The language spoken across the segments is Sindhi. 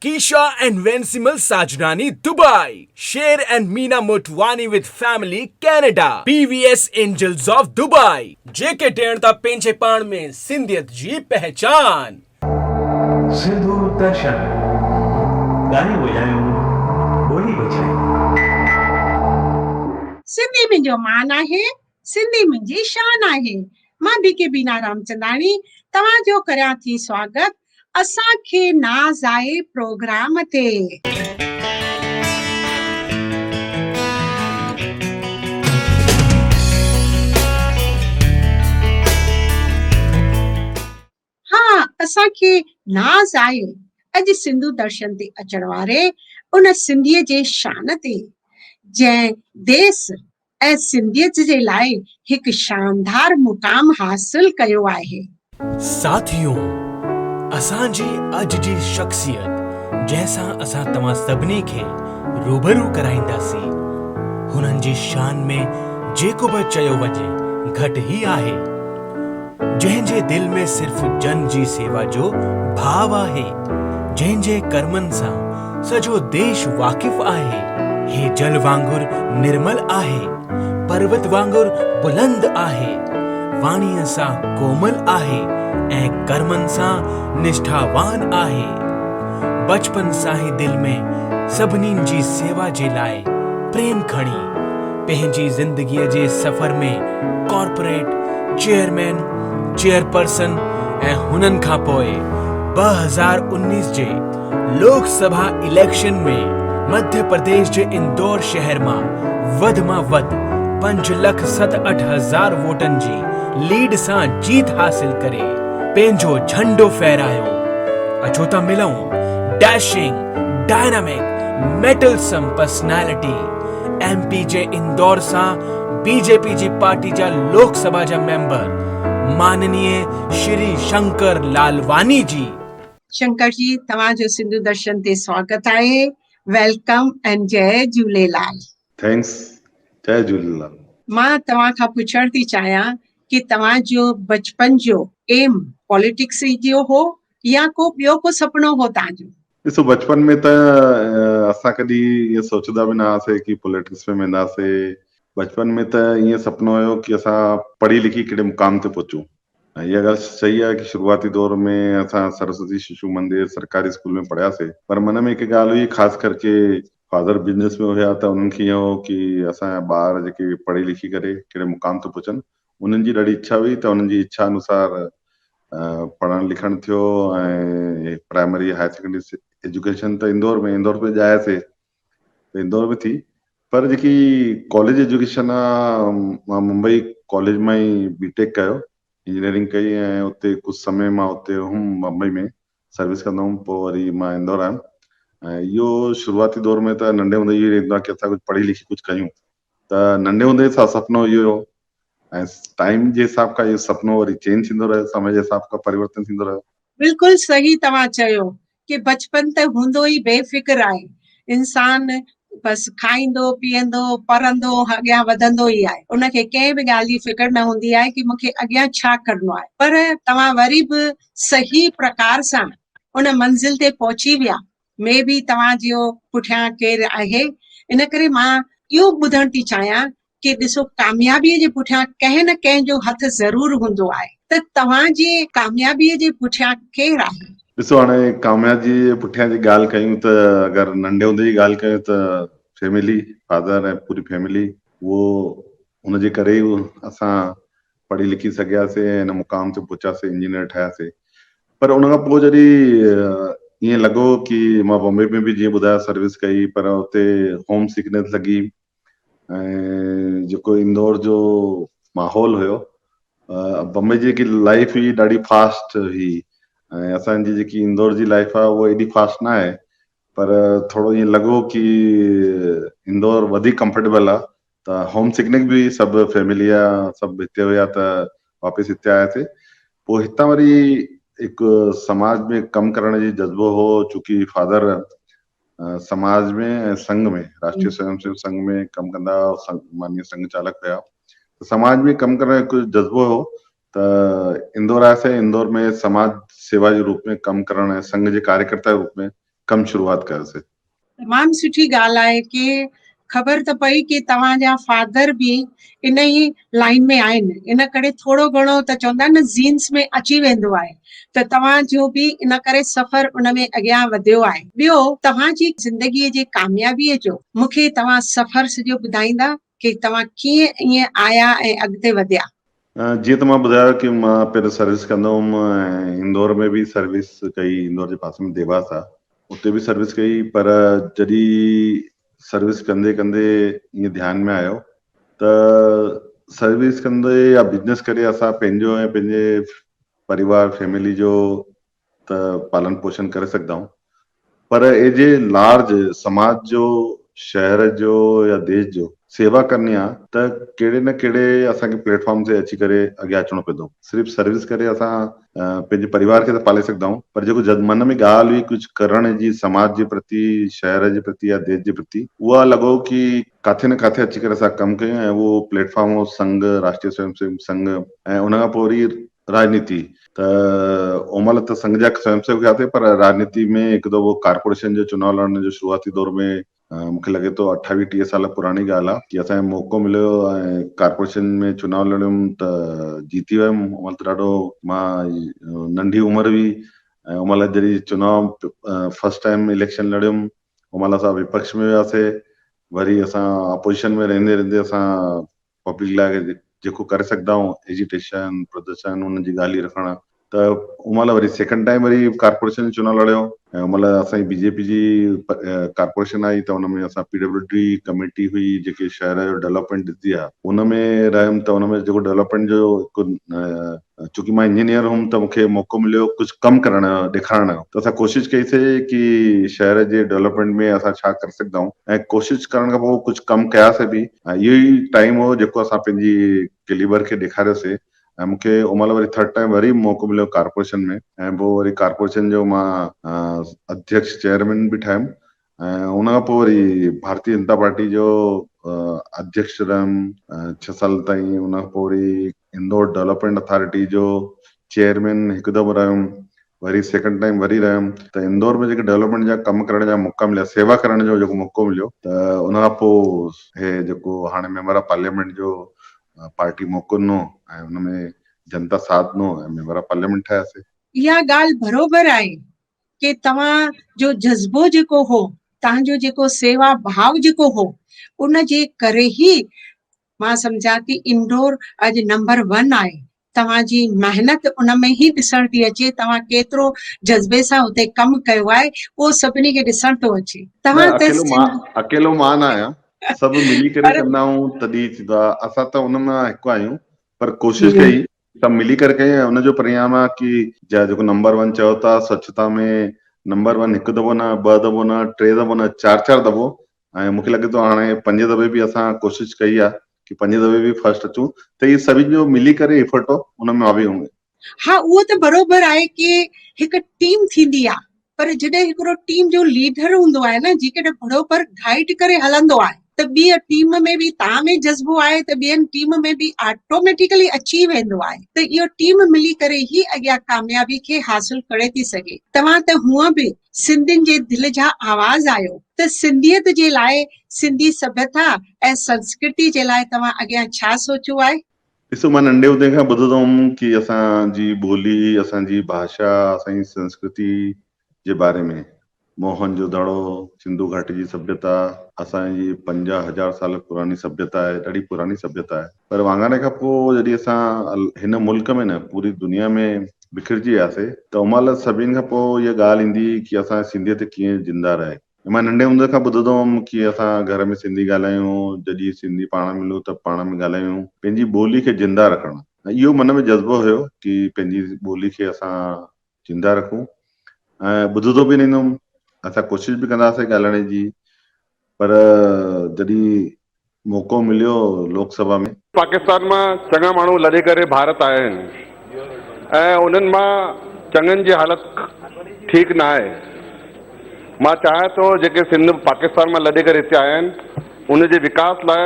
ڪيشا and Vensimal Sajnani Dubai, Sher and Meena Motwani with family Canada, P V S angels of Dubai, جيڪي ڏيڻ ٿا پنهنجي پاڻ ۾ سنڌيت جي پهچان. سنڌو درشن، ڳايون وڄايون، ٻولي بچايون. سنڌي منهنجو مان آهي، سنڌي منهنجي شان آهي. مان بي ڪي بينا رامچنداڻي توهان جو ڪريان ٿي سواگت اسان کي ناز آهي پروگرام تي. ها اسان کي ناز آهي اڄ سنڌو درشن تي اچڻ واري ان سنڌيء جي شان تي جنهن ديس ۽ سنڌيت جي لاء هڪ شاندار مقام حاصل ڪيو آهي. ساٿيو اسان جي اڄ جي شخصيت جنهن سان اسان توهان سڀني کي روبرو ڪرائينداسين هنن جي شان ۾ جيڪو به چيو وڃي گهٽ ئي آهي. جنهن جي دل ۾ صرف جن جي سيوا جو ڀاو آهي، جنهن جي ڪرمن سان سڄو ديش واقف آهي. هي جل وانگر نرمل آهي، پروت وانگر بلند آهي، واڻيء سان ڪومل آهي ۽ ڪرمن سان نشٺاوان آهي. بچپن سان ئي دل ۾ سڀني جي سيوا جي لاء پريم کڻي، پنهنجي زندگيء جي سفر ۾ ڪارپوريٽ چيئرمين، چيئرپرسن ۽ هنن کان پوء ٻه هزار انيس جي لوڪ سڀا اليڪشن ۾ مڌيه پرديش جي اندور شهر مان وڌ مان وڌ پنج لک ست اٺ هزار ووٽن جي ليڊ سان جيت حاصل ڪري پنهنجو جهنڊو ڦهرايو اچو ته ملون Dashing Dynamic Mettlesome Personality M P جي اندور سان بي جي پي جي پارٽي جا لوڪ سڀا جا ميمبر ماننيي شري شنڪر لالواني جي. شنڪر جي توهان جو سنڌو درشن تي سواگت آهي ويلڪم اينڊ جئي جهوليلال. ٿينڪس جئي جهوليلال. مان توهان کان پڇڻ ٿي چاهيان ڪي توهان جو بچپن جو ايم پاليٽڪس ئي جو هو يا ڪو ٻيو ڪو سپنو هو تهان جو. ڏسو بچپن ۾ ته اسان ڪڏهن ائين سوچيدا به نه هئاسي ڪي پوليٽڪس ۾ وينداسي بچپن ۾ ته ائين سپنو هيو ڪي اسان پڙهي لکي ڪهڙي مقام تي پهچون ۽ اها ڳالهه صحيح آهي ڪي شروعاتي دور ۾ اسان سرسوتي ششو مندر سرڪاري اسڪول ۾ پڙهياسي پر من ۾ هڪ ڳالهه هئي خاص ڪر ڪي فادر بزنس ۾ هيا ته انهن کي ائين هو ڪي اسان جا ٻار جيڪي پڙهي لکي ڪري ڪهڙي مقام تي پهچن انهن جي ڏاڍي اڇا هئي ته انهن جي اڇا انوسار پڙهڻ لکڻ ٿيو ۽ پرائمري هاير سيڪنڊري ايجوڪيشن ته اندور ۾ اندور ۾ ڄائي سي ته اندور ۾ ٿي پر جيڪي ڪاليج ايجوڪيشن آ ممبئي ڪاليج مان ئي بي ٽيڪ ڪيو انجنيئرنگ ڪئي ۽ اتي ڪجهه سمي مان اتي هم ممبئي ۾ سروس ڪندو هوم پوء وري مان اندور آيم ۽ اهو شروعاتي دور ۾ ته ننڍي هوندي اهو رهندو آ ڪي اسان ڪجهه پڙهي لکي ڪجهه ڪيون ته ننڍي هوندي سا سپنو اهو هو ۽ ٽائيم جي حساب کان اهو سپنو وري چينج ٿيندو رهيو سمي جي حساب کان پريورتن ٿيندو رهيو. بلڪل صحيح توهان چيو ڪي بچپن ته هوندو ئي بي فڪر آهي انسان بس کائيندو پيئندو پرندو اڳيان وڌندو ئي آهي ان کي ڪنهن به ڳالهه جي فڪر نه هوندي آهي ڪي مونکي اڳيان ڇا ڪرڻو آهي پر توهان وري به صحيح پرڪار سان ان منزل تي پهچي ويا ۾ به توهان جيو پٺيان ڪير آهي ان ڪري مان اهو ٻڌڻ ٿي چاهيان ڪي ڏسو ڪاميابي جي پٺيان ڪنهن نه ڪنهن جو هٿ ضرور هوندو آهي ته توهان جي ڪاميابي جي پٺيان ڪير آهي. ڏسو هاڻي ڪاميابي جي پٺيان جي ڳالهه ڪيون ته اگر ننڍي هوندي جي ڳالهه ڪيون ته فيملي فادر ۽ پوري فيملي اهو ان جي ڪري ئي اسان پڙهي لکي سگهياسي ۽ هن مقام تي پهتاسي انجنيئر ٺهياسي پر ان کان پوء جڏهن ائين لڳو ڪي مان بمبئي ۾ به جيئن ٻڌايو سروس ڪئي پر اتي هوم سڪنيس لڳي ۽ جيڪو اندور جو ماحول هيو بمبئي جي جيڪي لائيف هئي ڏاڍي فاسٽ هئي ۽ اسان جي جيڪي اندور جي لائيف آهي اها ايڏي فاسٽ نه آهي پر ٿورو ائين لڳو ڪي اندور وڌيڪ ڪمفرٽيبل آ ته هوم سڪنڪ به سڀ فيملي آ سڀ هتي هيا ته واپس هتي آياسي پو هتان وري هڪ سماج ۾ ڪم ڪرڻ جي جذبو هو چونڪي فادر سماج ۾ ۽ سنگ ۾ راشٽري سويم سيوڪ سنگ ۾ ڪم ڪندا ماني سنگ چالڪ هيا سماج ۾ ڪم ڪرڻ جو جذبو هو ته اندور آيس ۽ اندور ۾ سماج سيوا جي روپ ۾ ڪم ڪرڻ ۽ سنگهه جي ڪاريڪرتا جي روپ ۾ ڪم شروعات ڪيس. تمام سٺي ڳالهه آهي ڪي خبر ته پئي ڪي توهان جا فادر به انهي لائين ۾ آهن ان ڪري ٿورو گهڻو ته چوندا آهن نه زينس ۾ اچي ويندو آهي ته توهان جو به ان ڪري سفر ان ۾ اڳيان وڌيو آهي ٻيو توهان جي زندگي جي ڪاميابي جو مون کي توهان سفر سڄو ٻڌائيندا ڪي توهان ڪيئن ائين آيا ۽ اڳتي وڌيا. جيئن ته مان ٻڌايو ڪي مان پهرين سروس ڪندو هئم ۽ اندور ۾ به سروس ڪئي اندور جي پاسي ۾ ديواس آ اتي به سروس ڪئي پر جڏي سروس ڪندي ڪندي ائين ڌيان ۾ آيو ته سروس ڪندي يا بزنس ڪري اسان پنهنجو ۽ پنهنجي پريوار فيملي جو ته پالن پوشن ڪري سگهدائون پر ايجي لارج سماج جو شهر جو يا ديش جو سيوا ڪرڻي آ ته ڪهڙي نه ڪهڙي اسان کي پليٽ فارم تي اچي ڪري اڳيان اچڻو پوندو صرف سروس ڪري اسان پنهنجي پريوار کي ته پالي سگهدائون پر جيڪو جد من ۾ ڳالهه هئي ڪجهه ڪرڻ جي سماج جي پرتي شهر جي پرتي يا ديش جي پرتي اها لڳو ڪي ڪاٿي نه ڪاٿي اچي ڪري اسان ڪم ڪيون ۽ اهو پليٽ فارم هو سنگهه راشٽري سويم سيوڪ سنگهه ۽ ان کان پوء وري راڄنيتي ته ان مهل ته سنگهه جا سويم سيوڪ هيا ٿي پر راڄنيتي ۾ هڪ دفعو ڪارپوريشن جو چناء لڙڻ جو شروعاتي دور ۾ مون کي لڳي ٿو اٺاويهه ٽيهه سال پراڻي ڳالهه آهي جي اسان کي موقعو مليو ۽ ڪارپوريشن ۾ چناء لڙيم ته جيتي ويم ان مهل ته ڏاڍو مان ننڍي عمر هئي ۽ ان مهل جڏهن چناء فرسٽ ٽائيم اليڪشن لڙيم ان مهل اسان وپڪش ۾ وياسي وري اسان اپوزيشن ۾ رهندي رهندي اسان پبلڪ لاء جيڪو ڪري سگهدائون ايجيٽيشن پردرشن انهن جي ڳالهه ئي نه کڻڻ ته ان مهل وري سيڪنڊ ٽائيم وري ڪارپوريشن جي چونڊ لڙيو ۽ ان مهل اسان جي بي جي پي جي ڪارپوريشن آئي ته ان ۾ اسان پي ڊبليو ڊي ڪميٽي هئي جيڪي شهر جو ڊولپمينٽ ڏسندي آهي ان ۾ رهيم ته ان ۾ جيڪو ڊولپمينٽ جو هڪ چونڪه مان انجنيئر هئم ته مون کي موقعو مليو ڪجهه ڪم ڪرڻ جو ڏيکارڻ جو ته اسان ڪوشش ڪئي سي ڪي شهر جي ڊولپمينٽ ۾ اسان ڇا ڪري سگهندا آهيون ۽ ڪوشش ڪرڻ کان پوء ڪجهه ڪم ڪيا سي به ۽ اهو ئي ٽائيم هو جيڪو اسان پنهنجي ڪليبر کي ڏيکاريو سي ۽ مون کي ان مهل وري ٿرڊ ٽائيم وري موقعو مليو ڪارپوريشن ۾ ۽ پوء وري ڪارپوريشن جو مان اڌيڪش چيئرمين به ٺاهيم ۽ ان کان پوء وري ڀارتي جنتا پارٽي جو اڌيڪش رھيم ڇهه سال تائين ان کان پوء وري انڊور ڊولپمينٽ اٿارٽي جو چيئرمين هڪ دفعو رھيم وري سيڪنڊ ٽائيم وري رھيم ته انڊور ۾ جيڪي ڊولپمينٽ جا ڪم ڪرڻ جا موقعا مليا سيوا ڪرڻ جو جيڪو موقعو مليو ته ان کان پوء هي جيڪو هاڻي ميمبر آف پارليامينٽ جو پارٽي موقعو ڏنو ۽ ان ۾ جنتا ساٿ ڏنو ۽ ميمبر آف پارليامينٽ ٺهياسي. اها ڳالهه بروبر آهي ڪي توهان جو جذبو جيڪو هو تهان جو جيڪو سيوا ڀاو جيڪو هو ان جي ڪري هي مان سمجهان ٿي انڊور اڄ نمبر ون آهي توهان جي محنت ان ۾ هي ڏسڻ ٿي اچي توهان ڪيترو جذبي سان اتي ڪم ڪيو آهي اهو سڀني کي ڏسڻ ٿو اچي توهان اڪيلو مان اڪيلو مان نه آهيان سڀ ملي ڪري ڪندا آهيون تڏي ٿيندا اسان ته ان مان هڪ آهيون پر ڪوشش ڪئي سڀ ملي ڪري ڪئي ۽ ان جو پرينام آهي ڪي جا جيڪو نمبر ون چئو ٿا سوڇتا ۾ نمبر ون هڪ دفعو نه ٻه دفعو نه ٽي دفعو نه چار چار دفعو ۽ مونکي لڳي ٿو هاڻي پنجين دفعي به اسان ڪوشش ڪئي آهي ڪي پنجين دفعي به فرسٽ اچون ته هي سڀين جو ملي ڪري افرٽ هو ان ۾ آوي هونگي. ها اهو ته بروبر آهي ڪي هڪ ٽيم ٿيندي آهي. پر جڏهن هڪڙو ٽيم جو ليڊر هوندو آهي نه جيڪڏهن ڀڙو پر گائيڊ ڪري هلندو آهي ته ٻي ٽيم ۾ به تان ۾ جذبو آهي ته ٻين ٽيم ۾ به آٽوميٽيڪلي اچي ويندو آهي ته اهو ٽيم ملي ڪري ئي اڳيان ڪاميابي کي حاصل ڪري ٿي سگهي توهان ته هونء به سنڌين جي دل جا آواز آهيو ته سنڌيت جي لاء سنڌي سڀيتا ۽ سنسڪرتي جي لاء توهان اڳيان ڇا سوچيو آهي؟ ڏسو مان ننڍي هوندي کان ٻڌندو هوم ڪي اسان جي ٻولي اسان جي ڀاشا اسان جي سنسڪرتي جي باري ۾ موهن جو دڙو سنڌو گهاٽي جي سڀيتا اسان جي پنجاهه هزار سال پراڻي سڀيتا آهي ڏاڍي پراڻي سڀيتا آهي پر واڱاري کان پوء جڏهن اسان هن ملڪ ۾ نه پوري دنيا ۾ بکرجي وياسي ته ان مهل سڀين کان پوء اها ڳالهه ايندي ڪي اسان جي سنڌيت ڪيئن زنده رهي مان ننڍي هوندي کان ٻڌندو هوم ڪي اسان گهر ۾ سنڌي ڳالهايون، جڏهين سنڌي پاڻ ملون ته پاڻ ۾ ڳالهايون، پنهنجي ٻولي کي زنده رکڻ اهو من ۾ جذبو هيو ڪي پنهنجي ٻولي کي اسان زنده رکون ۽ ٻڌندو به رهندو هوم، اسان ڪوشش به ڪندا هئاسين ڳالهائڻ جي پر جڏهين موقعو مليو لوڪ سڀا ۾. پاڪستان مان چڱا ماڻهو لڏي ڪري ڀارت آيا آهن ۽ انهن مان چڱن جي حالت ٺيڪ ناهي. مان چاهيان ٿو جيڪي سنڌ پاڪستان مان لڏي ڪري هتي آيا آهن ان جي وڪاس لاء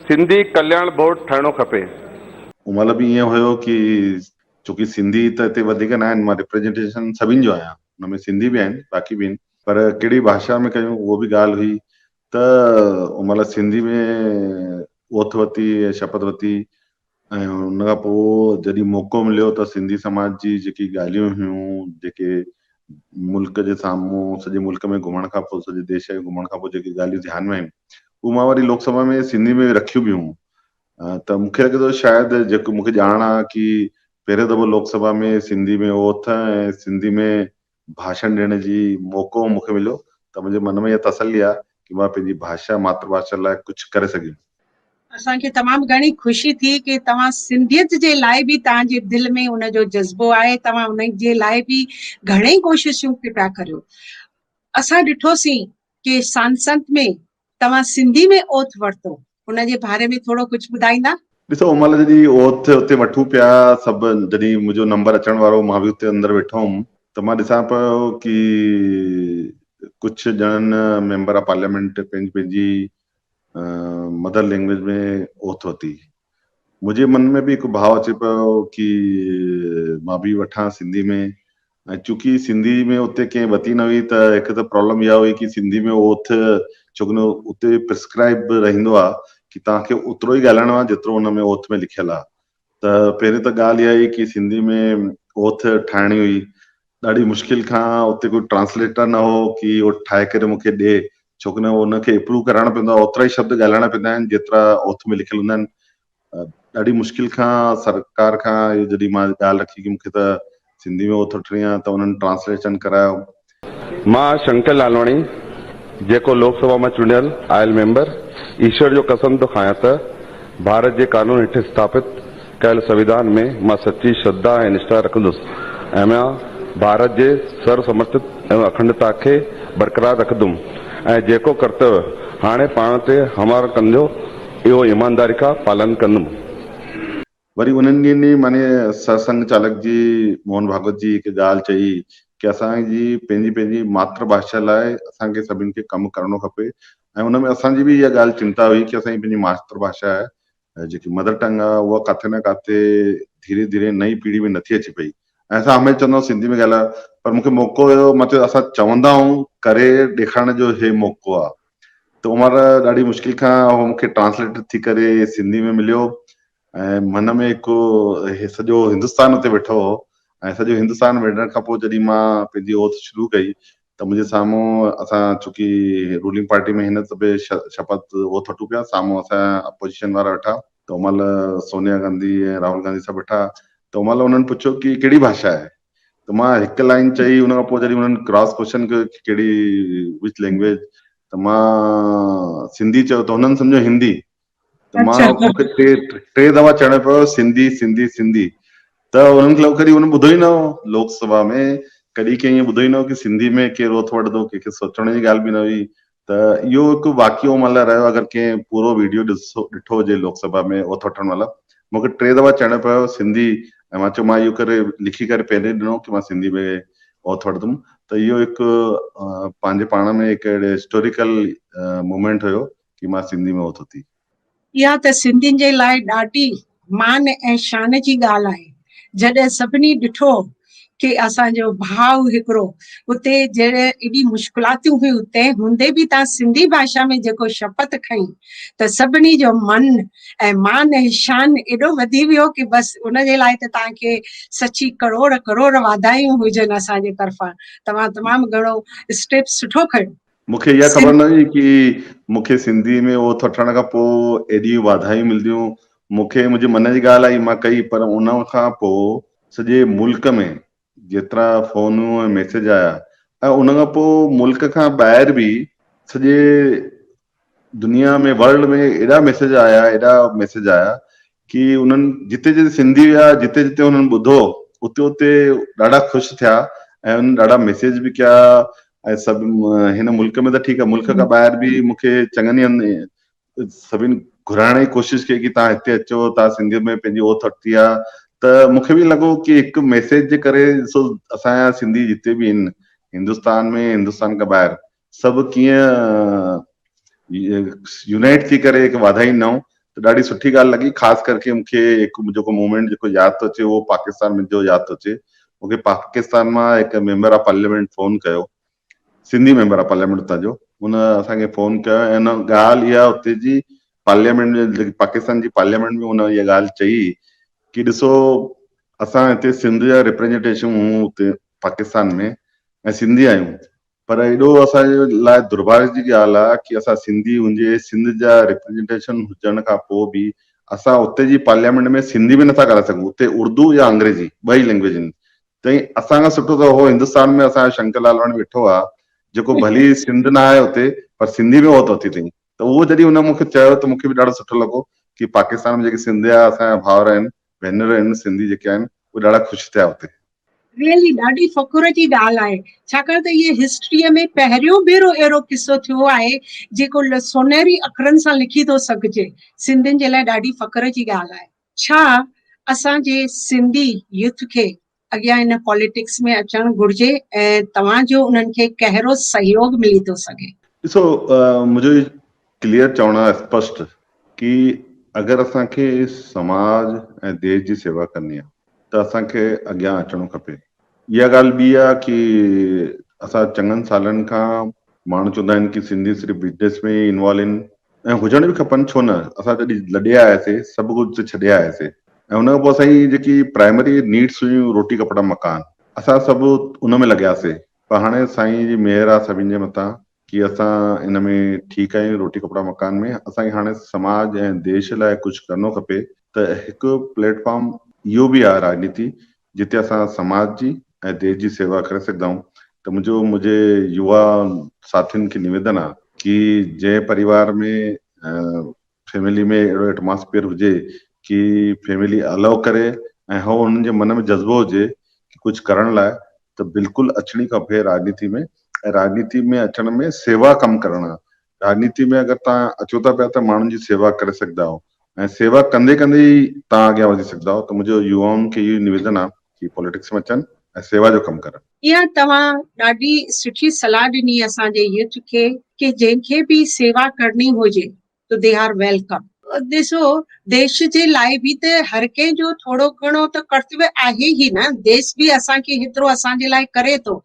سنڌي ڪلياڻ بورڊ ٺهڻو کپي. ان مهل به ائين هيو ڪي ڇوڪي سنڌي ته هتي وڌيڪ ناهن مان ريپريزنٽيشن سڀني جو آهيان ان ۾ سنڌي به آهن باقي به آهن پر ڪهڙي ڀاشا ۾ ڪيون اهو به ڳالهه هئي ته ان مهل سنڌي ۾ اوٿ وتي ۽ شپت وتي ۽ ان کان پوء جڏهن موقعو مليو ته سنڌي سماج جي جيڪي ڳالهيون هيون جيڪي ملڪ جي سامهون سڄي ملڪ ۾ گهمڻ کان پوء سڄي ديش ۾ گهمڻ کان پوء جيڪي ڳالهيون ڌيان ۾ آيون اهو مان وري لوڪ سڀا ۾ سنڌي ۾ رکيون به هيون ته مون کي لڳي ٿو شايد جيڪو مون کي ڄاڻ آهي ڪي پهريون دفعو لوڪ سڀا ۾ سنڌي ۾ اوٿ ۽ سنڌي ۾ ڀاشڻ ڏيڻ جي موقعو مون کي مليو ته منهنجي من ۾ اها تسلي آهي ته مان پنهنجي ڀاشا ماتر ڀاشا لاء ڪجهه ڪري سگهيم. اسان کي تمام گهڻي خوشي ٿي ڪي توهان سنڌيت جي لاء به توهان جي دل ۾ ان جو جذبو آهي توهان ان جي لاء به گهڻي ڪوششون ڪي پيا ڪريو اسان ڏٺوسين ڪي سانسنت ۾ توهان سنڌي ۾ اوٿ ورتو ان جي باري ۾ ٿورو ڪجهه ٻڌائيندا؟ ڏسو ان مهل جڏهن اوٿ اتي وٺون پيا سڀ جڏهن منهنجو نمبر اچڻ وارو هو مان به اتي اندر ويٺو هئم ته مان ڏسان پيو ڪي ڪجهه ڄڻن ميمبر آف پارليامينٽ پنهنجي پنهنجي مدر لينگويج ۾ اوٿ ورتي منهنجي من ۾ به هڪ ڀاء اچي پيو ڪي مان به وٺان سنڌي ۾ ۽ چونڪي سنڌي ۾ اتي ڪنهن وتي نه هئي ته هڪ ته پرابلم اها هئي ڪي سنڌي ۾ اهو اٿ ڇوڪن اتي پرسڪرائب به رهندو آهي ڪي توهان کي اوترو ئي ڳالهائڻو آهي جيترو ان ۾ اوٿ ۾ لکيل آهي ته پهرين ته ڳالهه اها هئي ڪي سنڌي ۾ اوٿ ٺاهڻي هئي ڏاڍي مشڪل کان اتي ڪو ٽرانسليٽر نه هو ڪي اهو ٺاهي ڪري مون کي ڏي ڇوڪن ان کي اپروو ڪرائڻو پوندو آهي اوترا ئي شبد ڳالهائڻا پونداآهن جيترا اوٿ ۾ لکيل هوندا آهن ڏاڍي مشڪل کان سرڪار کان اهو جڏهن مان ڳالهه رکي ڪي مونکي ته سنڌي ۾ اوٿوٺڻي آ ته انهن ٽرانسليشن ڪرايو. مان شنڪر لالواڻي جيڪو لوڪ سڀا مان چونڊيل آيل ميمبر ايشور جو قسم ٿو کايان ته ڀارت جي قانون هيٺ اسٿاپت ڪيل سنويڌان ۾ مان سچي شرڌا ۽ نشٺا رکندس ۽ مان ڀارت جي سرو سمرٿت ۽ اکنڊتا کي برقرار رکندم ۽ جيڪو ڪرتويه هاڻي پاڻ تي هموار ڪنديو اهو ايمانداري کان پالن ڪندم. وري انهن ڏينهن ئي معني سرسنگهه چالڪ جي موهن ڀاڳوت جي هڪ ڳالهه چئي ڪي اسان جي پنهنجي پنهنجي ماتر ڀاشا لاء اسان کي سڀني کي ڪم ڪرڻو کپي ۽ ان ۾ اسان جي به اها ڳالهه چنتا هئي ڪي اسان جي پنهنجي ماتر ڀاشا جيڪي مدر ٽنگ آهي اها ڪاٿي نه ڪاٿي ڌيري ڌيري نئين پيڙهي ۾ نٿي اچي پئي ۽ اسان هميشه چوندو آهيون سنڌي ۾ ڳالهايو پر مون کي موقعو هيو مطلب اسان چوندا آهيون ڪري ڏيکارڻ جو هي موقعو آهي. ته عمر ڏاڍي مشڪل کان هو مون کي ٽرانسليٽر ٿي ڪري سنڌي ۾ مليو ۽ من ۾ هڪ سڄو هندستان اتي ويٺو هو ۽ سڄو هندستان ويڙهڻ کان پوء جڏهن مان پنهنجي اوٿ شروع ڪئي ته منهنجي سامهون اسان چونڪي رولنگ پارٽي ۾ هن دفعي شپت اوٿ وٺون پيا سامهون اسان اپوزيشن وارا ويٺا ته عمل سونيا گانڌي ۽ راهل گانڌي سڀ ويٺا ته عمل انهن پڇيو ڪي ڪهڙي ڀاشا آهي ته مان هڪ لائين چئي ان کان پوء جڏهن انهن ڪراس ڪوشچن ڪيو ته ڪهڙي وچ لينگويج ته مان سنڌي چيو ته هنن سمجهيو هندي ته مان اچھا مون کي ٽي ٽي دفعا چوڻو پيو سنڌي سنڌي سنڌي ته انهن کي لڳو ڪڏهن هن ٻڌو ئي نه هو لوڪ سڀا ۾ ڪڏهن ڪنهن ائين ٻڌو ئي نه هو ڪي سنڌي ۾ ڪير رٿ وٺندو ڪنهن کي سوچڻ جي ڳالهه به نه هئي ته اهو هڪ واقعو ملهه رهيو اگر ڪنهن پورو ويڊيو ڏسو ڏٺو هجي لوڪ سڀا ۾ اوٿ وٺڻ ملهه مون کي ٽي دفعا چئڻو پيو سنڌي ۽ مان چيو مان اهو ڪري لکي ڪري پهرين ڏنو ڪي مان سنڌي ۾ اوٿ وٺندم ته اهو هڪ پنهنجي پاڻ ۾ هڪ اهڙي هسٽوريڪل مومينٽ هيو ڪي مان سنڌي ۾ اوٿ وٺي. اها ته سنڌين جي لاء ڏاڍي مان ۽ شان جي ڳالهه آهي، جڏهن سڀني ڏٺو ڪي اسان جو ڀاء هڪڙو اتي جڏهن ايڏي مشڪلاتيون هيون تنهن هوندي به تان سنڌي ڀاشا ۾ جيڪو شپت کنئي ته سڀني جو من ۽ مان ۽ شان ايڏو وڌي ويو ڪي بس ان جي لاء ته تان کي سچي ڪروڙ ڪروڙ واڌايون هجن اسان جي طرفان توهان تمام گهڻو اسٽيپ سٺو کنيو. مون کي اها خبر سنڌ نه هئي ڪي مون کي سنڌي ۾ او ٿو ٺھڻ کان پوء ايڏيون واڌايون ملنديون مون کي منھنجي من جي ڳالھ آئي مان ڪئي پر ان کان پوء سڄي ملڪ ۾ جيترا فونون ۽ ميسيج آيا ۽ ان کان پوء ملڪ کان ٻاهر به سڄي دنيا ۾ ورلڊ ۾ ايڏا ميسيج آيا ايڏا ميسيج آيا ڪي انهن جتي جتي سنڌي ويا جتي جتي انهن ٻڌو اتي اتي ڏاڍا خوش ٿيا ۽ انهن ڏاڍا ميسيج به ڪيا ۽ سڀ هن ملڪ ۾ ته ٺيڪ آهي ملڪ کان ٻاهر به مون کي چڱن هنڌ سڀني گهرائڻ جي ڪوشش ڪئي ڪي تان هتي اچو تان سنڌي ۾ پنهنجي اوت ورتي آهي ته مون کي به لڳو ڪي هڪ ميسيج جي ڪري سو اسان جا سنڌي جتي به هن هندستان ۾ هندستان کان ٻاهر سڀ ڪيئن يونائيٽ ٿي ڪري هڪ واڌائين نئون ته ڏاڍي سٺي ڳالهه لڳي خاص ڪر ڪي مونکي هڪ جيڪو مومينٽ جيڪو ياد ٿو اچي اهو پاڪستان ۾ جو ياد ٿو اچي مونکي پاڪستان مان هڪ ميمبر آف پارليامينٽ فون ڪيو سنڌي ميمبر آف پارليامينٽ اتان جو ان اسان کي فون ڪيو ۽ ان ڳالهه اها اتي جي پارليامينٽ ۾ پاڪستان جي پارليامينٽ ۾ ان اها ڳالهه چئي ڪي ڏسو اسان هتي سنڌ جا ريپريزنٽيشن هون هتي پاڪستان ۾ ۽ سنڌي آهيون پر ايڏو اسان جي لاء درڀاڳ جي ڳالهه آ ڪي اسان سنڌي هونجي سنڌ جا ريپريزنٽيشن هجڻ کان پو به اسان اتي جي پارليامينٽ ۾ سنڌي ۾ نٿا ڳالهائي سگهون اتي اردو يا انگريزي ٻئي لينگويج هن تئين اسان کان سٺو ته هو هندستان ۾ اسان جو شنڪر لالواڻي ويٺو آ جيڪو ڀلي سنڌ نه آهي اتي پر سنڌي ۾ هو ته اٿي تئين ته اهو جڏهن هن مونکي چيو ته مونکي به ڏاڍو سٺو لڳو ڪي پاڪستان ۾ جيڪي سنڌيا اسان جا ڀائر آهن ڀينر ان سنڌي جيڪي آهن اهي ڏاڍا خوش ٿيا اتي. ريئلي ڏاڍي فخر جي ڳالهه آهي ڇاڪاڻ ته اهي هسٽريء ۾ پهريون ڀيرو اهڙو قصو ٿيو آهي جيڪو سونهري اکرن سان لکي ٿو سگهجي سنڌين جي لاء ڏاڍي فخر جي ڳالهه آهي ڇا اسان جي سنڌي يوٿ کي اڳيان ان پاليٽڪس ۾ اچڻ گهرجي ۽ توهان جو انهن کي ڪهرو سهيوڳ ملي ٿو سگهي؟ ڏسو منهنجو هي ڪليئر چوڻ آهي اسپشٽ ڪي اگر اسان کي سماج ۽ ديش جي سيوا ڪرڻي آهي ته اسان کي اڳيان اچڻو کپي اها ڳالهه ٻي آهي ڪي اسان چڱن سالن کان ماڻهو چوندا آهن ڪي سنڌي صرف بزنس ۾ ئي انوالو آهن ۽ هجڻ به کپن ڇو نه اسان جڏهن لڏي آياسي سڀ ڪجهه اتي ڇڏي آياسي ۽ ان کان پوء اسان جي جيڪي پرائمري نيڊس هيون روٽي ڪپڙا مڪان اسان سڀ ان ۾ لڳياسي پر هاڻي سائين جي مهر آ سڀن جي مٿان ڪي اسان ان ۾ ٺيڪ آهيون روٽي ڪپڙا مڪان ۾ اسان کي هاڻي سماج ۽ ديش لاء ڪجهه ڪرڻو کپي ته هڪ پليٽ فارم اهو به آ راڄنيتي جتي اسان سماج جي ۽ ديش جي سيوا ڪري سگهدائون ته منهنجو منهنجي يوا ساٿين کي نويدن آ ڪي جنهن پريوار ۾ فيملي ۾ اهڙو ايٽماسفيئر هجي ڪي فيملي الو ڪري ۽ هو انهن جي من ۾ جذبو هجي ڪي ڪجهه ڪرڻ لاء ته بلڪل اچڻي کپي راڄنيتي ۾ ۽ راڄنيتي ۾ اچڻ ۾ سيوا ڪم ڪرڻ راڄنيتي ۾ اگر توهان اچو ٿا پيا ته ماڻهن جي سيوا ڪري سگهندا آهيو ۽ سيوا ڪندي ڪندي ئي توهان اڳيان وڌي سگهندا آهيو ته منهنجو يوائن کي اهو ئي نويدن آهي ڪي پوليٽڪس ۾ اچن ۽ سيوا جو ڪم ڪرن. اها توهان ڏاڍي سٺي صلاح ڏني اسان جي يوٿ کي ڪي جنهن کي به سيوا ڪرڻي هجي تو دي آر ويلڪم. ڏسو ديش جي لاء به ته هر ڪنهن جو ٿورو گهڻو ته ڪرتوي آهي ئي نه، ديس به اسان کي هيترو اسان جي لاء ڪري ٿو.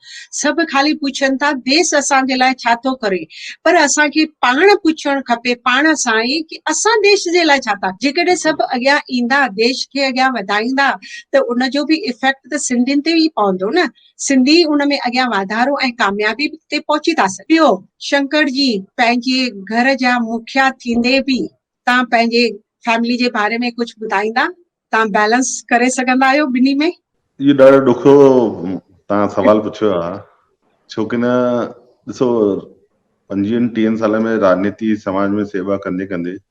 سڀ خالي پڇن ٿا ديس اسان جي لاء ڇا ٿو ڪري؟ پر اسان کي پاڻ پڇڻ کپي پاڻ سان ئي ڪي اسان ديش جي لاء ڇا ٿا جيڪڏهن سڀ اڳيان ايندا ديش کي اڳيان وڌائيندا ته ان جو به افيڪٽ ته سنڌين تي ئي پوندو نه. سنڌي ان ۾ اڳيان واڌارو ۽ ڪاميابي تي پهچي ٿا سگهن. ٻيو، شنڪر جي پنهنجي گهر جا مکيا ٿيندي به توهان پنهنجي فيملي جي باري ۾ ڪجهه ٻڌائيندا توهان بيلنس ڪري سگهندا آهيو ٻنهي ۾؟ اهو ڏاڍو ڏکيو توهان سوال پڇيو آهي ڇوڪه نه ڏسو پنجويهن ٽيهن سالن ۾ راڄنيتي سماج ۾ سيوا ڪندي ڪندي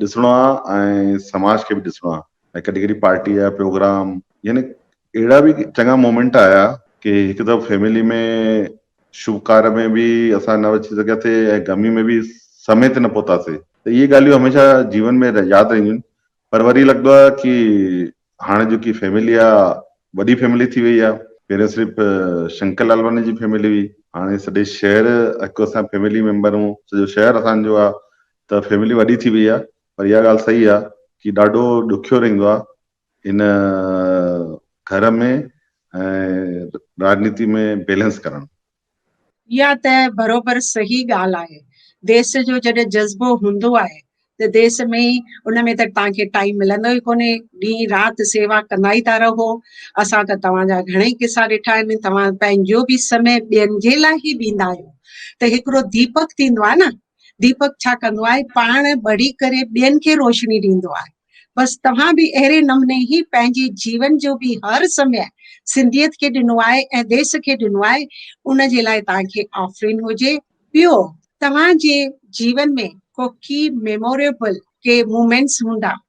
ڏسڻو آ ۽ سماج کي به ڏسڻو آ ۽ ڪڏھن ڪڏھن پارٽي جا پروگرام يعني اھڙا به چڱا مومينٽ آيا ڪي ھڪ دفعو فيملي ۾ شڀ ڪار ۾ به اسان نه اچي سگھيا سي ۽ غمي ۾ به سمي تي نه پھتا سي ته اھي ڳالھيون ھميشه جيون ۾ ياد رھنديون آھن پر وري لڳندو آ ڪي ھاڻي جيڪي فيملي آ وڏي فيملي ٿي وئي آ پھرين صرف شنڪر لالواڻي جي فيملي ھئي ھاڻي سڄي شھر ھڪ اسان فيملي ميمبر ھون سڄو شھر اسان جو آ ته فيملي وڏي ٿي وئي آ پر اها ڳالهه صحيح آ ڪي ڏاڍو ڏکيو رهندو آ ان گهر ۾ ۽ راڄنيتي ۾ بيلنس ڪرڻ. اها ته برابر صحيح ڳالهه آهي ديس جو جڏهن جذبو هوندو آهي ته ديس ۾ ئي ان ۾ ته توهان کي ٽائيم ملندو ئي ڪونهي ڏينهن رات سيوا ڪندا ئي ٿا رهو اسان ته توهان جا گهڻئي قصا ڏٺا آهن توهان پنهنجو به سمي ٻين جي لاء ئي ڏيندا آهيو ته هڪڙو ديپڪ ٿيندو آهي نه ديپڪ ڇا ڪندو آهي پاڻ ٻڙي ڪري ٻين کي روشني ڏيندو آهي بس توهان به اهڙي نموني ئي پنهنجي جيون جو به هر سمي سنڌيت کي ڏنو آهي ۽ ديس کي ڏنو آهي ان جي لاء توهان کي آفرين هجي ٻيو توهان جي جيون ۾ ڪو ڪي ميموريبل ڪي مومينٽس هوندا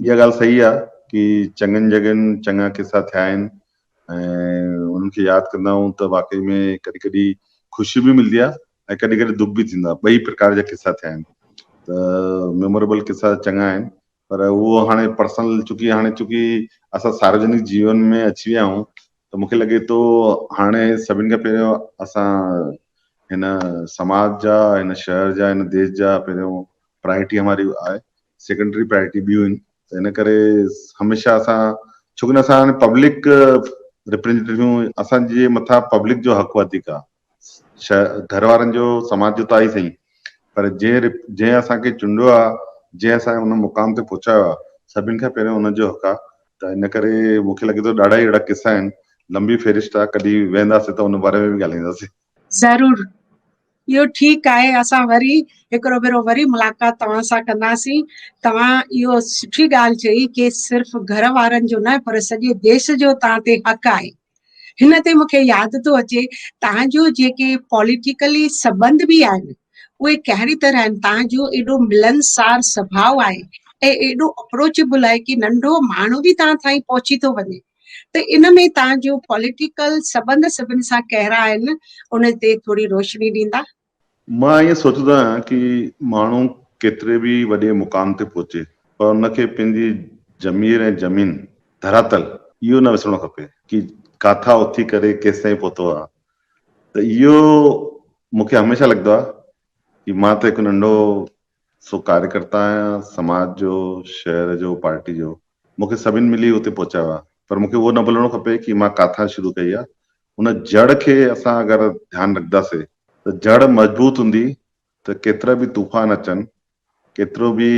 اها ڳالهه صحيح آ ڪي چڱن جڳهين چڱا قصا ٿيا آهن ۽ انهن کي ياد ڪندا آهيون ته واقعي ۾ ڪڏهن ڪڏهن خوشي به ملدي آ ۽ ڪڏهن ڪڏهن دک به ٿيندو آ ٻئي پرڪار جا قصا ٿيا آهن ته ميموريبل قصا چڱا آهن پر اهو هاڻي پرسنل چونڪي هاڻي چونڪي اسان ساروجنڪ جيون ۾ اچي ويا آهيون ته مونکي لڳي ٿو هاڻي سڀن کان پهريون اسان هن سماج جا هن شهر جا هن ديس جا پهريون پرائرٽي هماري آهي سيڪنڊري پرائرٽي ٻيون آهن ته ان ڪري هميشه اسان ڇو ڪنهن اسان هاڻي پبلڪ ريپريزنٽيٽيون اسان جي مٿان پبلڪ جو حق وڌيڪ آهي گهر وارن جو سماج جو ته آهي سهي پر جنهن جنهن اسان کي چونڊيو آهي جنهن اسان کي ان مقام تي پهچايو آهي سڀني کان پهريون ان جو حق آهي ته ان ڪري مون کي لڳي ٿو ڏاڍا ئي اهڙا قصا آهن لنبي فهرست آهي ڪڏهن ويهنداسين ته ان باري ۾ به ڳالهائينداسين ضرور اهو ٺيڪ آهي اسان وري هڪڙو ڀيرو وري ملاقات توهان سان ڪنداسين توهان اهو سٺي ڳالهه چئي ڪي صرف گهر وارن جو نه پر سڄي ديس جو توهان تي حق آهي هن تي مونکي ياد ٿو اچي توهان جو جيڪي پوليٽيڪلي سبنڌ به آهن اهي ڪهڙي طرح آهن توهان جو ايڏو ملنسار سڀاء آهي ۽ ايڏو اپروچيبل آهي ڪي ننڍو ماڻهو به توهان تائين پهچي ٿو وڃي ته ان ۾ توهان جون پوليٽيڪل سٻنڌ سڀن سان ڪهڙا آهن ان تي ٿوري روشني ڏيندا؟ مان ائين سوچيندو آهيان ڪي ماڻهو ڪيتري به وڏي مقام تي پهچي پر ان کي پنهنجي ضمير ۽ زمين، ڌراتل، اهو نه وسرڻو کپي ڪي ڪاٿان اٿي ڪري ڪيستائين پهتو آهي ته اهو مون کي هميشه لڳندو آهي ڪي مان ته هڪ ننڍو سو ڪاريڪرتا آهيان سماج جو، شهر جو، پارٽي جو، مون کي سڀن ملي اتي پهچايو آهي پر مون کي اهو نه ڀلڻو کپي ڪي مان ڪاٿان شروع ڪئي آهي، ان جڙ کي اسان اگر ڌيان رکنداسي ته جڙ مضبوط هوندي ته ڪيترا به طوفان اچن، ڪيترو به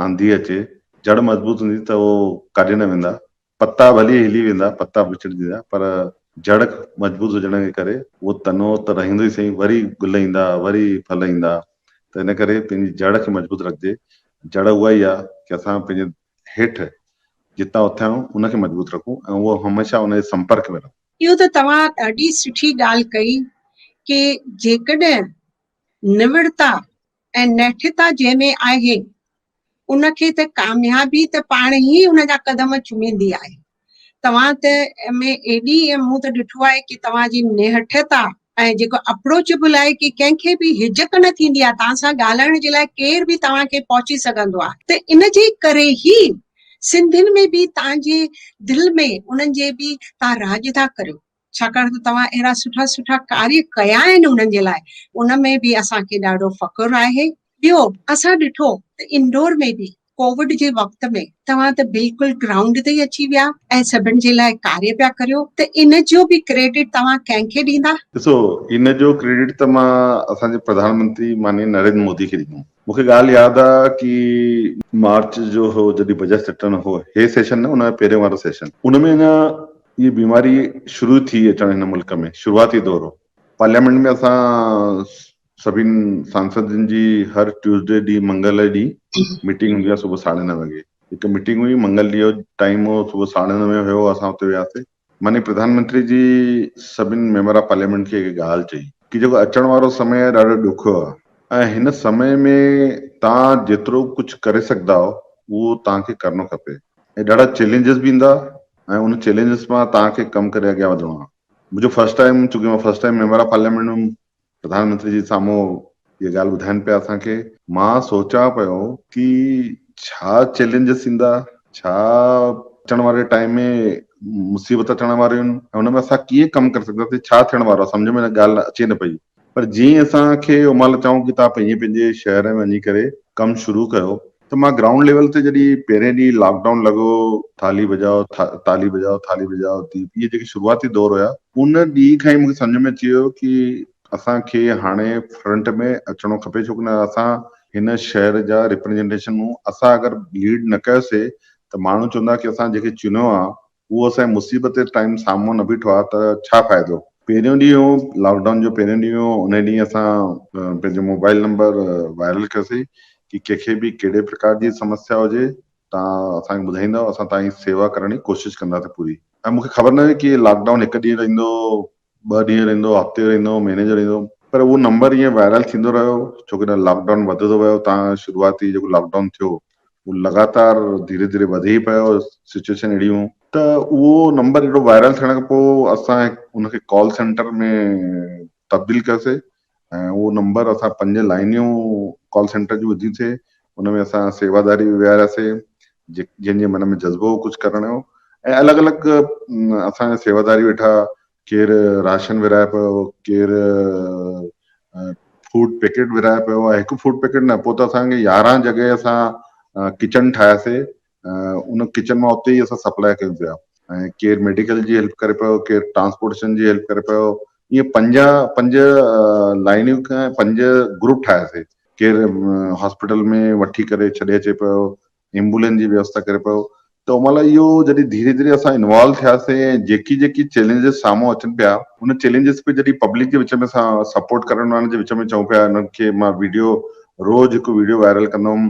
آنڌي اچي، جڙ مضبوط هوندي ته اهو ڪاڏي نه ويندا، پتا ڀلي هلي ويندا، پتا وچڙجندا، پر جڙ مضبوط هجڻ جي ڪري اهو تنو ته رهندو ئي سهي، وري گل ايندا، وري ڦل ايندا، ته ان ڪري پنهنجي جڙ کي مضبوط رکجي. جڙ اها ئي آهي ڪي اسان پنهنجي هيٺ جتان اٿيا آهيون، ان کي مضبوط رکون ۽ اهو هميشه ان جي سمپرڪ ۾ رهون. اهو ته توهان ڏاڍي سٺي ڳالهه ڪئي ڪي جيڪڏهن نوڙتا ۽ نهٺتا جنهن ۾ آهي، ان کي ته ڪاميابي ته پاڻ ئي ان جا قدم چميندي آهي. توهان ته ۾ ايڏي ۽ مون ته ڏٺو آهي ڪي توهان جي نهٺتا ۽ جيڪو اپروچيبل آهي ڪي ڪنهن کي به هجڪ نه ٿيندي آهي، توهان سان ڳالهائڻ جي لاء ڪير به توهان کي پهچي سگهندو آهي. ته ان جي ڪري ئي سنڌين ۾ به توهان جي دل ۾ انهن جي به توهان راڄ ٿا ڪريو. ڇاڪاڻ ته توهان اهڙا سٺا سٺا ڪاري ڪيا آهن انهن جي لاء ان ۾ به اسان کي ڏاڍو فخر آهي. ٻيو اسان ڏٺو ته انڊور ۾ به ڪووڊ جي وقت ۾ توهان ته بلڪل گرائونڊ تي ئي اچي ويا ۽ سڀن جي لاء ڪاري پيا ڪريو ته ان جو به ڪريڊٽ توهان ڪنهن کي ڏيندا؟ ڏسو ان جو ڪريڊٽ ته مان اسان جي پرڌان منتري مانيء نريندر مودي کي ڏيندم. مون کي ڳالهه ياد آ ڪي مارچ جو هو جڏهن بجيٽ سيٽن هو هي سيشن نه ان پهرين وارو سيشن ان ۾ اڃا هي بيماري شروع ٿي اچڻ هن ملڪ ۾ شروعاتي دور هو پارليامينٽ ۾ اسان سڀين سانسدن جي هر ٽيوزڊي ڏينهن منگل ڏينهن ميٽنگ هوندي آ صبح ساڍي نوي وڳي هڪ ميٽنگ هئي منگل ڏينهن جو ٽائيم هو صبح ساڍي نوي هيو اسان اتي وياسي مني پرڌان منتري جي سڀني ميمبران پارليامينٽ کي هڪ ڳالهه چئي ڪي جيڪو اچڻ وارو سمي آهي ڏاڍو ڏکيو آهي ۽ هن سمي ۾ توهان جيترو ڪجهه ڪري سگهندا آهو اهو توهان کي ڪرڻو کپي ۽ ڏاڍا چئلينجز به ايندا ۽ ان چئلينجز مان توهان کي ڪم ڪري اڳيان وڌڻو آهي منهنجو فرسٽ ٽائيم چونڪه مان فرسٽ ٽائيم ميمبران پارليامينٽ ۾ پرڌان منتري جي سامهون اها ڳالهه ٻڌائين پيا اسان کي. مان سوچان پيو ڪي ڇا چئلينجز ايندا، ڇا اچڻ واري ٽائيم ۾ مصيبت اچڻ واريون آهن ۽ ان ۾ اسان ڪيئن ڪم ڪري سگهنداسين، ڇا ٿيڻ وارو آهي سمجهه ۾ ڳالهه اچي نه پئي. پر جيئن اسان کي اومال چئون ڪي توهان پنهنجي پنهنجي شهر ۾ وڃي ڪري ڪم شروع ڪيو ته مان گرائونڊ ليول تي جڏهن پهرين ڏينهن لاڪ ڊائون لڳو ٿالهي بجاء ٿالهي بجاء ٿالهي بجاء دي اهي جيڪي شروعاتي دور هيا ان ڏينهن کان ئي مون کي سمجهه ۾ اچي ويو ڪي اسان کي هاڻي فرنٽ ۾ اچڻو کپي ڇو ڪنهن اسان هن شهر جا ريپريزنٽيشن هون اسان اگر ليڊ نه ڪيوسي ته ماڻهو چوندا ڪي اسان جيڪي چنيو آ هو اسان جي مصيبت جي ٽائيم سامهون نه بيٺو آ ته ڇا فائدو. پهريون ڏينهن هو لاڪ ڊائون جو پهريون ڏينهن هو انهي ڏينهن اسان پنهنجو موبائل نمبر وائرل ڪيوسي ڪي ڪنهن کي به ڪهڙي پرڪار جي سمسيا هجي تان اسان کي ٻڌائيندؤ اسان تان جي سيوا ڪرڻ جي ڪوشش ڪنداسين پوري ۽ مونکي خبر نه هئي ڪي لاڪ ڊائون هڪ ڏينهن رهندو ٻه ڏينهن رهندو، هفتي رهندو، مهيني جو رهندو. پر اهو نمبر ائين وائرل ٿيندو رهيو ڇو ڪنهن لاڪ ڊائون وڌندو ويو تان شروعاتي جيڪو لاڪ ڊائون ٿيو اهو لڳاتار ڌيري ڌيري وڌي ئي پيو سچويشن اهڙي هون ته اهو نمبر اهڙو وائرل ٿيڻ کان پوء اسان ان کي ڪال سينٽر ۾ تبديل ڪيوسي ۽ اهو نمبر اسان پنج لائنيون ڪال سينٽر جون وڌيون سي ان ۾ اسان سيواداري به ويهاريا سي جي جن جي من ۾ جذبو هو ڪجهه ڪرڻ جو ۽ الڳ الڳ اسان جا سيواداري ويٺا ڪير راشن ورهائي پيو ڪير فوڊ پيڪيٽ ورهائي پيو آهي هڪ فوڊ پيڪيٽ نه پوء ته اسانکي يارهن جڳهه اسان ڪچن ٺاهياسي ان ڪچن مان اتي ئي اسان سپلاء ڪيون پيا ۽ ڪير ميڊيڪل جي هيلپ ڪري پيو ڪير ٽرانسپورٽيشن جي هيلپ ڪري پيو ائين پنجاهه پنج لائنيون کان پنج گروپ ٺاهياسي ڪير هاسپيٽل ۾ وٺي ڪري ڇڏي اچي پيو ايمبولينس جي ويوستا ڪري پيو ته ان مهل اهو جڏهن ڌيري ڌيري اسان انوالو ٿياسي ۽ جيڪي جيڪي چئلينجز سامهون اچن پيا ان چئلينجز کي جڏهن پبلڪ جي وچ ۾ اسان سپورٽ ڪرڻ وارن جي وچ ۾ چئون پيا انهن کي مان ويڊيو روز هڪ ويڊيو وائرل ڪندم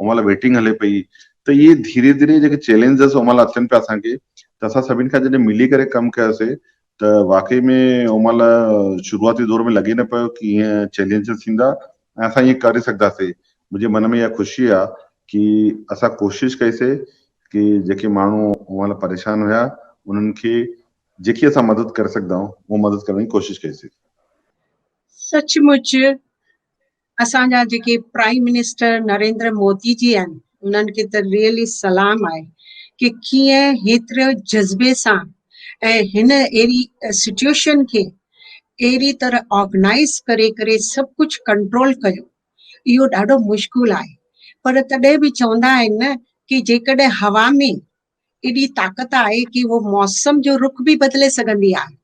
ان مهل ويٽنگ هلي پئي ته اهي ڌيري ڌيري جيڪي چئلينجز ان مهل اچن پيا اسان کي ته اسان سڀني کان جڏهن ملي ڪري ڪم ڪيوسي ته واقعي ۾ ان مهل شروعاتي دور ۾ لڳي نه پيو ڪي ائين چئلينجز ٿيندا ۽ اسان ائين ڪري سگهنداسي منهنجي من ۾ اها خوشي آ ڪي اسان ڪوشش ڪئي سي ڪي جيڪي ماڻهو ان مهل پريشان هيا انهن کي جيڪي اسان مدد ڪري سگهدائون اها مدد ڪرڻ جي ڪوشش ڪئي سي. سچ مچ اسان جا جيڪي پرائيم منسٽر نريندر مودي جي آهن انهن کي ته ريئلي سلام آهي ڪي ڪيئن هيتري جذبي سان ۽ هن اهڙي سچويشن کي اهڙي طرح آرگنائز ڪري ڪري سڀ ڪجهه ڪنٽرول ڪيو اهو ڏاڍو مشڪل آهي پر تڏهن به چوندا آهن نه ڪي جيڪڏهن هوا ۾ ايڏي طاقت آهي ڪي هو موسم جو رخ به بدلي سگهندي آهي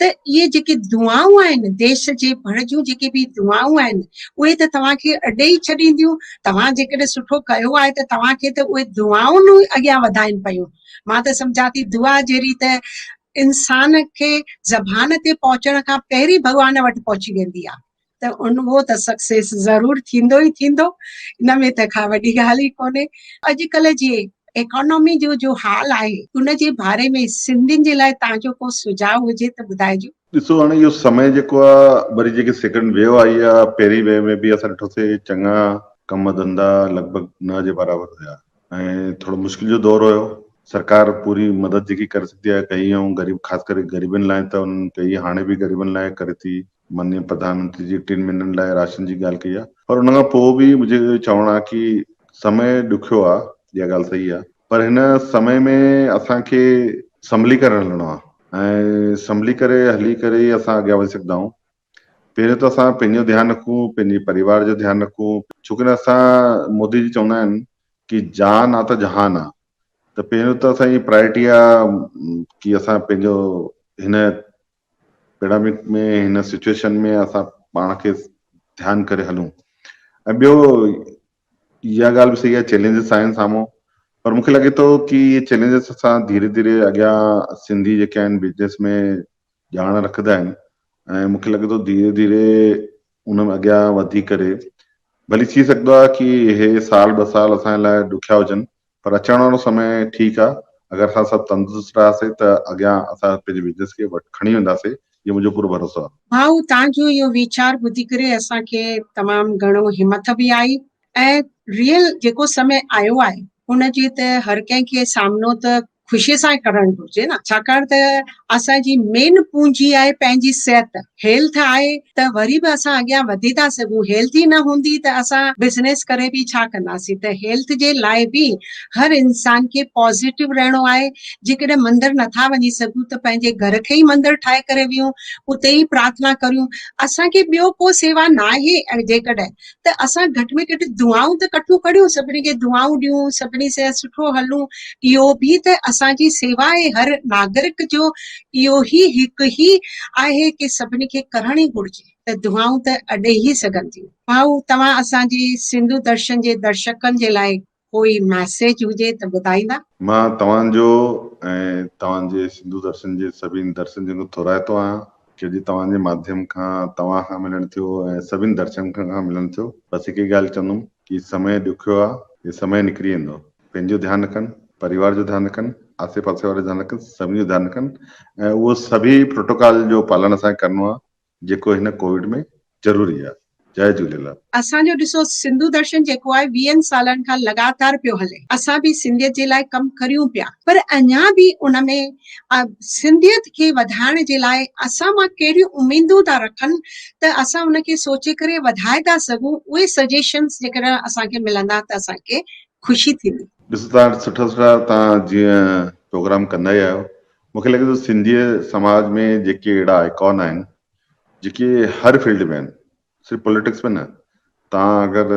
ته اهي جيڪي دعائون آهن ديش جي ڀڙ جون جيڪي به دعائون آهن اهي ته توهان کي اڏي ئي ڇڏينديون توهان جيڪڏهن سٺو ڪيو آهي ته توهان کي ته اهي دعائون ئي اڳيان وڌائين پيون مان ته سمجهان ٿي دعا جهڙي ته انسان کي زبان تي پهچڻ کان پهرين ڀڳوان وٽ پهچي ويندي آهي ته انوو ته سڪسيس ضرور ٿيندو ئي ٿيندو ان ۾ ته ڪا وڏي ڳالهه ئي ڪونهي اڄڪلهه جي ايڪانامي جو جو حال آهي ان جي باري ۾ سنڌين جي لاء توهان جو ڪو سجهاء هجي ته ٻڌائجو. ڏسو هاڻي اهو سمي جيڪو آ وري جيڪي سيڪنڊ ويو آئي آ پهرين ويو ۾ به اسان ڏٺوسي چڱا ڪم ڌندا لڳ ڀڳ نه جي برابر هيا ۽ ٿورو مشڪل جو دور هيو سرڪار پوري مدد جيڪي ڪري سگهي آ ڪئي ائون غريب خاص ڪري غريبن لاء ته انهن ڪئي هاڻي به غريبن لاء ڪري ٿي مانيء پرڌانمنتري جي ٽن مھينن لاء راشن جي ڳالهه ڪئي آهي پر ان کان پوء به منهنجو اهو چوڻ آهي ڪي سمي ڏکيو آهي اها ڳالهه صحيح آهي پر هن سمي ۾ اسان کي سنڀلي ڪري هلڻو آهي ۽ سنڀلي ڪري هلي ڪري ئي اسان اڳيان وڌي سگهندا آهيون پهريون ته اسان پنهنجو ڌيان رکون پنهنجي پريوار جو ڌيان رکون ڇوڪري اسان مودي جي چوندا آهن ڪي جان آ ته جهان آ ته پهريون ته اسان جي پرائرٽي آهي ڪي اسان پنهنجو هن پيڊامڪ ۾ هن سچوئيشن ۾ اسان پاڻ کي ڌيان ڪري هلون ۽ ٻيو اها ڳالهه به صحيح آهي چئلينجز آهن سامهون پر مونکي لڳي ٿو ڪي اهي چئلينجز اسان ڌيري ڌيري اڳيان سنڌي جيڪي آهن بزنس ۾ ڄاڻ رکندا آهن ۽ مونکي لڳي ٿو ڌيري ڌيري ان ۾ اڳيان وڌي ڪري ڀلي ٿي سگهندو آهي ڪي اهي سال ٻه سال اسان لاء ڏکيا هجن پر اچڻ وارو سمي ٺيڪ آ اگر اسان سڀ تندرست رهياسي ته اڳيان اسان پنهنجي بزنس کي وٽ کڻي وينداسي اهو منهنجو پورو ڀروسو آ. ڀائو تان جو اهو ويچار ٻڌي ڪري اسان کي تمام گهڻو همٿ به آئي ۽ ريل جيڪو سمي آيو آهي ان جي ته هر ڪنهن کي سامنو ته خوشي سان ئي ڪرڻ گهرجي نه ڇاڪاڻ ته اسان جي مين پونجي آهي پنهنجي صحت Health آهي ته وري به اسان اڳيان وڌي ٿا سگهون Health ئي نه هوندي ته اسان Business ڪري به ڇا ڪنداسين ته Health جي لاء به هر انسان کي Positive رهڻو آهي جيڪڏهن مندر نٿا وڃي سگهون ته پنهنجي گهر کي ئي مندر ٺاهي ڪري ويهون اتي ئي پرارٿنا ڪريون اسان کي ٻيو ڪو سوا ناهي جيڪڏهن ته اسان گهٽ ۾ گهٽ دعائون ته ڪٺيون ڪريون، سڀني کي دعائون ڏيون، سڀني سان سٺو هلون، اهو به ته اسان جي سيوا آهي، هر ناگرڪ جو اهو ئي حق ئي آهي ڪي سڀني کي ڪرڻ ئي گهرجي ته دعائون ته اڏي ئي سگهن ٿيون. ڀائو توهان اسان جي سنڌو درشن جي درشڪن جي لاء ڪوئي ميسيج هجي ته ٻڌائيندا. مان توهان جو ۽ توهان جي سنڌو درشن جي سڀني درشن جن کان ٿورائتو آهيان ڇو جو توهان جي ماڌيم کان توهان کان ملڻ ٿيو ۽ سڀني درشن کان کان ملڻ ٿيو بس هڪ ئي ڳالهه چوندم ڪي سمي ڏکيو آ هي سمي نڪري ويندو پنهنجو ڌيان رکن پريوار جو ڌيان رکن آسي پاسي وارو ڌيان رکن سڀني جو ڌيان رکن ۽ اهو سڀي پروٽوڪال جو پالڻ اسان کي ڪرڻو آ جيڪو هن ڪووڊ ۾ ضروري آ جاء جهوليلال. اسان جو ڏسو سنڌو درشن جيڪو آهي ويهن سالن کان لڳاتار پيو هلي اسان به سنڌيت جي لاء ڪم ڪريون پيا پر اڃا به ان ۾ سنڌيت کي وڌائڻ جي لاء اسان مان ڪهڙيون اميدون ٿا رکن ته اسان ان کي سوچي ڪري وڌائي ٿا سگهون اهي سجيشنس جيڪڏهن اسان کي ملندا ته اسان کي خوشي ٿيندي. ڏسو تان سٺا سٺا تان جيئن پروگرام ڪندا ئي آهيو مون کي لڳي ٿو سنڌيء سماج ۾ جيڪي اهڙا آئيڪان آهن جيڪي هر فيلڊ ۾ آهن صرف پوليٽڪس ۾ نه توهان اگر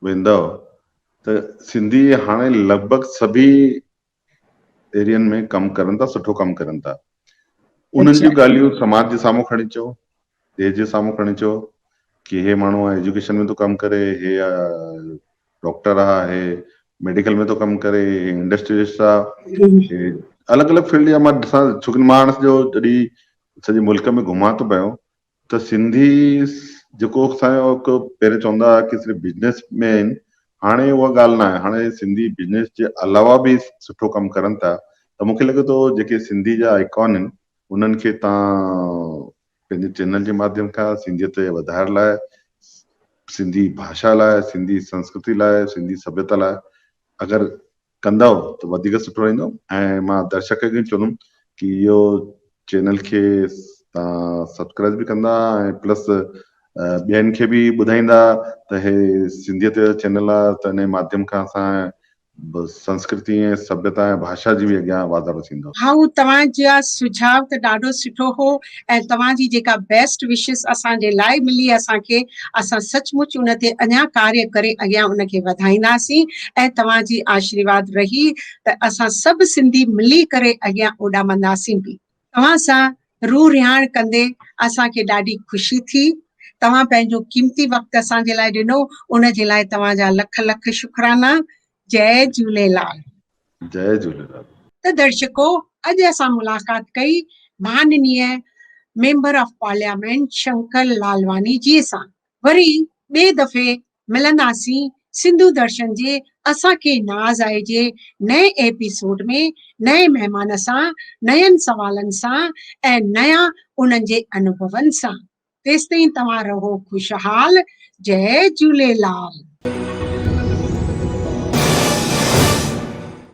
ويندؤ ته سنڌي هاڻي لڳ ڀڳ سڀي ايرين ۾ ڪم ڪرن ٿا سٺو ڪم ڪرن ٿا انهن جون ڳالهيون سماج جي سامهون کڻي چئو دير جي سامهون کڻي چيو ڪي هي ماڻهو آ ايجوڪيشن ۾ ٿو ڪم ڪري هي آ ڊاڪٽر آ هي ميڊيڪل ۾ ٿو ڪم ڪري هي انڊسٽريلسٽ آ هي الڳ الڳ فيلڊ جا مان ڏسان ڇو ڪي مان جو جڏي سڄي ملڪ ۾ گهمان ٿو پيو ته سنڌي جيڪو اسان جو هڪ پهرين چوندا هئا ڪي صرف بزنس ۾ آهن هاڻي اها ڳالهه نه آهي هاڻي سنڌي بزنس جي علاوه به سٺو ڪم ڪرن ٿا ته مونکي لڳي ٿو جيڪي سنڌي جا ايڪون آهن انهن کي توهان پنهنجي چينل جي ماڌيم کان سنڌيت جي وڌائڻ لاء، سنڌي ڀاشا لاء، سنڌي سنسڪرتي لاء، سنڌي سڀيتا لاء اگر ڪندؤ ته وڌيڪ سٺو رهندو ۽ مان درشڪن کي چوندم ڪي اهو چينل کي توهان سبسڪرائيب به ڪندا ۽ پلس ٻين کي به ٻڌائيندا ته هي سنڌيت جو چينل آهي ته انهي ماڌيم کان اسان بس سنسڪرتي ۽ سڀيتا ۽ ڀاشا جي به اڳيان واڌارو ٿيندو. هائو توهان جا سجهاء ته ڏاڍو سٺو هو ۽ توهان جي جيڪا بيسٽ وشز اسان جي لاء ملي اسان کي اسان سچ مچ ان تي اڃان ڪاري ڪري اڳيان ان کي وڌائينداسين ۽ توهان جي آشرواد رهي ته اسان سڀ سنڌي ملي ڪري اڳيان اوڏامنداسين به. توهان سان روح رهاڻ ڪندي اسان کي ڏاڍي خوشي ٿي. توهان پنهنجو قيمتي وقت اسان جي لاء ڏنو ان جي لاء توهان جا لک لک شڪرانا. جئي جهوليلال. جئي جهوليلال. ته درشڪو اڄ اسان ملاقات ڪئي مھاننيء member of parliament Shankar Lalwani ji سان وري ٻئي دفعي ملنداسين سنڌو درشن جي اسان کي ناز آهي جي نئين ايپيسوڊ ۾ نئين مهمان سان نين سوالن سان ۽ نيا انهن جي انوڀون سان تيستائين توهان رهو خوشحال جئي جهوليلال.